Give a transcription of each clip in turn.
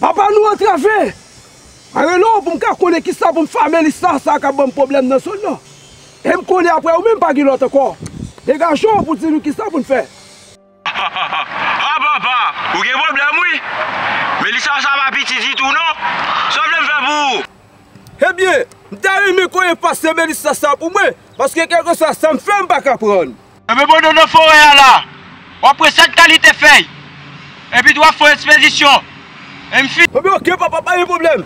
Papa nou antrave! Mwen rele w pou m ka konnen ki sa pou m fè Melis la, sa a ka ban m pwoblèm nan zòn nan. E m konnen apre ou menm pa gen lòt ankò. Degaje w pou di nou ki sa pou n fè. Hahaha! Ha papa! Ou gen pwoblèm wi! Melis la sa pa piti ditou non! Sa w vle m fè pou ou? Ebyen, m ta renmen konnen pastè Melis la sa a pou mwen, paske kèlkeswa sa m fè m pa ka pran. Anbe bòdò nan forè a la, w ap wè sèt kalite fèy, epi tou w ap fè yon espedisyon. E m fin. Anbe ok papa, pa gen pwoblèm.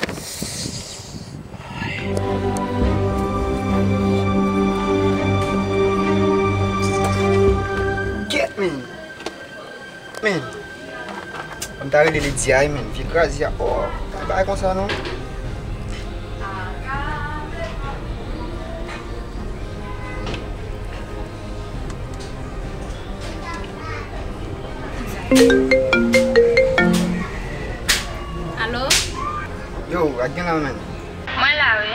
Get me! Men, m ta rele li Diay menm, vye kraze a oo, pa gen bagay konsa non. Alo? Yo, ak gen la menm? Mwen la wi.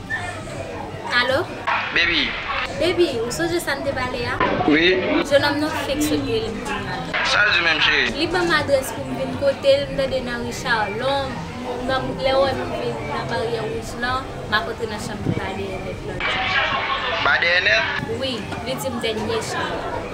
Alo? Baby? Baby, ou sonje sa n te pale a? Wi. Jenòm nan fenk sot rele m kounya la. Sa l di menm cheri? Li ban m adrès pou m vin kote l, m tande nan ri Charlon, lè w wè m vin nan baryè wouj lan, m ap antre nan chanm li ba dèyè nèt lan l di m. Ba dèyè nèt? Wi, li di m dènye chanm.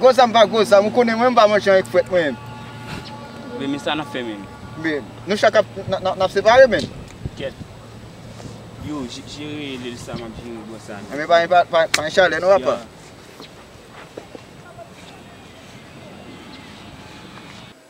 Gwo zam pa gwo zam ou konnen mwen pa manche avèk frèt mwen. Bby men sa nap fè menm. Bby nou chak ap nap separe menm. Kèt. Yo jere lel sa map jere bò sa menm. Anben pa gen chalè non apa.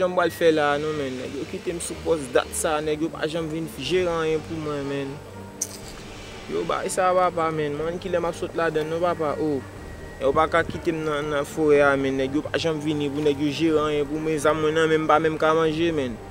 Janm pral fè la non menn nèg yo kitem sou pòs dat sa nèg yo pa janm vin jere anyen pou mwen menn yo bay sa papa menn mwen mnm kilè map sot ladann non papa oo nèg yo paka kitem nan forè a menn nèg yo pa janm vini pou nèg yo jere anyen pou mwen zam mwen nan menm mpa menm ka manje menn.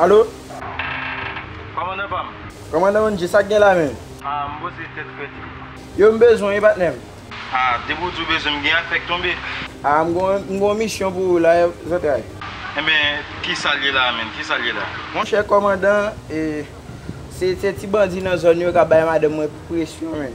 Alo? Kòmandan pa m. Kòmandan Wondje, sa k gen la menm? A, m boze tèt frèt li. Yo m bezwen wi patnè m. A, depi w di w bezwen m gen ak fè k tonbe. A, m gen yon misyon pou ou la zantray. Enben, ki sa l ye la menm? Ki sa l ye la? Monchè kòmandan, se ti bandi nan zòn yo k ap bay madanm mwen presyon menm.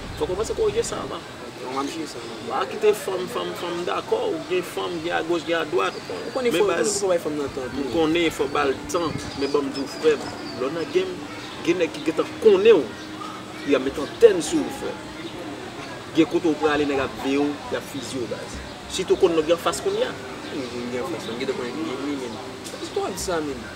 Fok ou pase korije sa avan. Bon map jije sa avan. Pa kite fanm fanm fanm m dakò ou gen fanm gen a goch gen a dwat ou konnen fo men fok ou bay fanm nan tan tou. M konnen fo bal tan men banm di w frem lè w nan game gen nèg ki gentan konnen w li ap met antèn sou ou frem gen kote w prale nèg ap veye w yap fizye w baz sitou w konn nèg yo anfas kounya. Ki nèg yo gen anfas la m gete konnen ki game li menm. Ki pastè w ap di sa menm.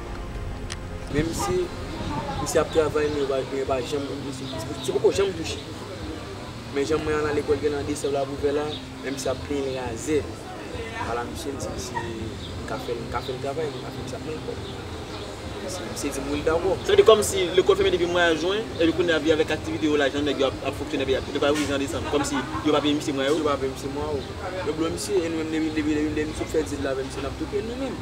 Menm si misye ap travay men yo pa janm misye poko janm touche men jan mwen al nan lekòl genlè nan desèm la pou vè la men misye ap plenyen razè ala misye m di misye m ka fèl m ka fèl travay m ap fè l kòb misye di m wi l dakò. Sa vle di kòmsi lekòl fèmen depi mwa jwen epi kounye a vi avèk aktivite yo lajan nèg yo ap fonksyone epi yo pral ouvri jan desanm kòmsi yo pa peye misye mwa yo. Yo pa peye misye mwa yo yo blo misye e nou menm depi misye fè dil la avè misye n ap tou peye l nou menm.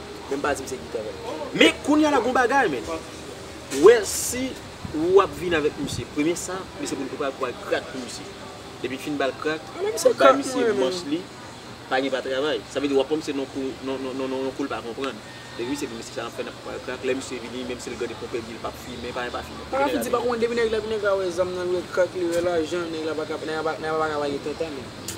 Menm pa dim se gita vre. Men kounya la gon bagay menn. Wè si ou ap vin avèk misye. Premye sa, misye pou pral pou al krak pou misye. Depi l fin ba l krak, bay misye manch li, pa gen pa travay. Sa vle di w ap pran misye nan kou, nan yon kou l pa konprann. Depi misye di misye sa l ap fè nan pou pral krak. Lè misye vini, menm si l gade konpè di l pa p fimen, pa gen pa fimen. Paka fiti pa konn depi nèg la vin nèg la wè zam nan l wè krak li wè lajan nèg la paka nèg la paka pa gen tenten menn.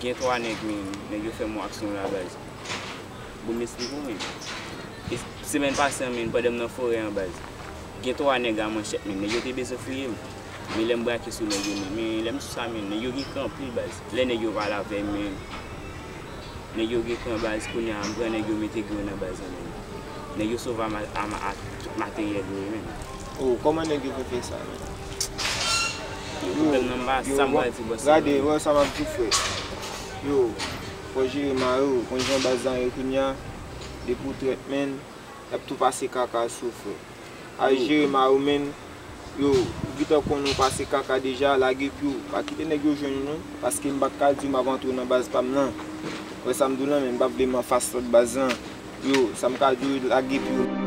Gen 3 nèg men nèg yo fèm yon aksyon la baz Bon m esplike w men E semèn pase an men pandan m nan forè an baz Gen 3 nèg a manchèt men nèg yo te bezwen fouye m Men lè m brake sou nèg yo men Men lè m sou sa men nèg yo gen kran anpil baz Lè nèg yo pale avè m men Nèg yo gen kran baz Kounye a m pran nèg yo mete grenn an baz Nèg yo sove a ak tout materyèl yo men Oh koman neg yo fe fe sa menm. Yo koupel nan ba sa m pral di bòs sa. Gade wè sa map diw frè. Yo fò jere marew ou konn jan baz lan ye kounya depi ou trèt menn yap tou pase kaka sou ou frè. Al jere marew menn yo ou gentan konn ou pase kaka deja lage piw pa kite neg yo jwenn ou non paske m paka diw map antre nan baz pam lan wè sam diw lan menm m pa vle m anfas lòt baz lan. Yo sa m ka di w lage pye w.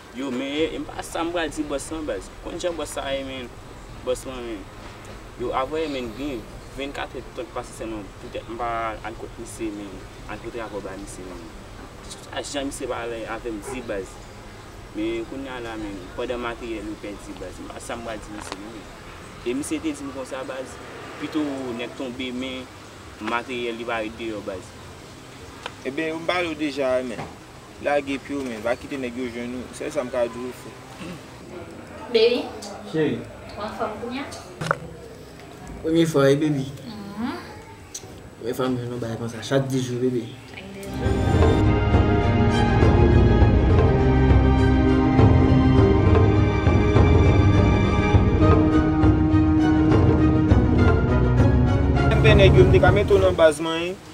Yo men m pa sa m pral di bòs lan baz konn jan bòs sa ye menn bòs lan menn yo avwe menn gen 24 è tan k pase sèlman poutèt m pa al kot misye menn al pote rapò bay misye menn a jan misye pale avè m di baz men kounya la menn pandan materyèl yo pèdi baz m pa sa m pral di misye menn e misye te di m konsa baz pito nèg tonbe men materyèl li pa ret deyò baz. Ebyen yo m pale w deja a menn. Lage pye w men, pa kite nèg yo jwenn ou. Sèl sa m ka di w se. Baby, ou anfòm kounya? Premye fwa wi baby. Premye fwa m jwenn yon bagay konsa. Chak 10 jou baby. Chak 10 jou. Mwen renmen nèg yo, m te ka mete w nan baz manyen.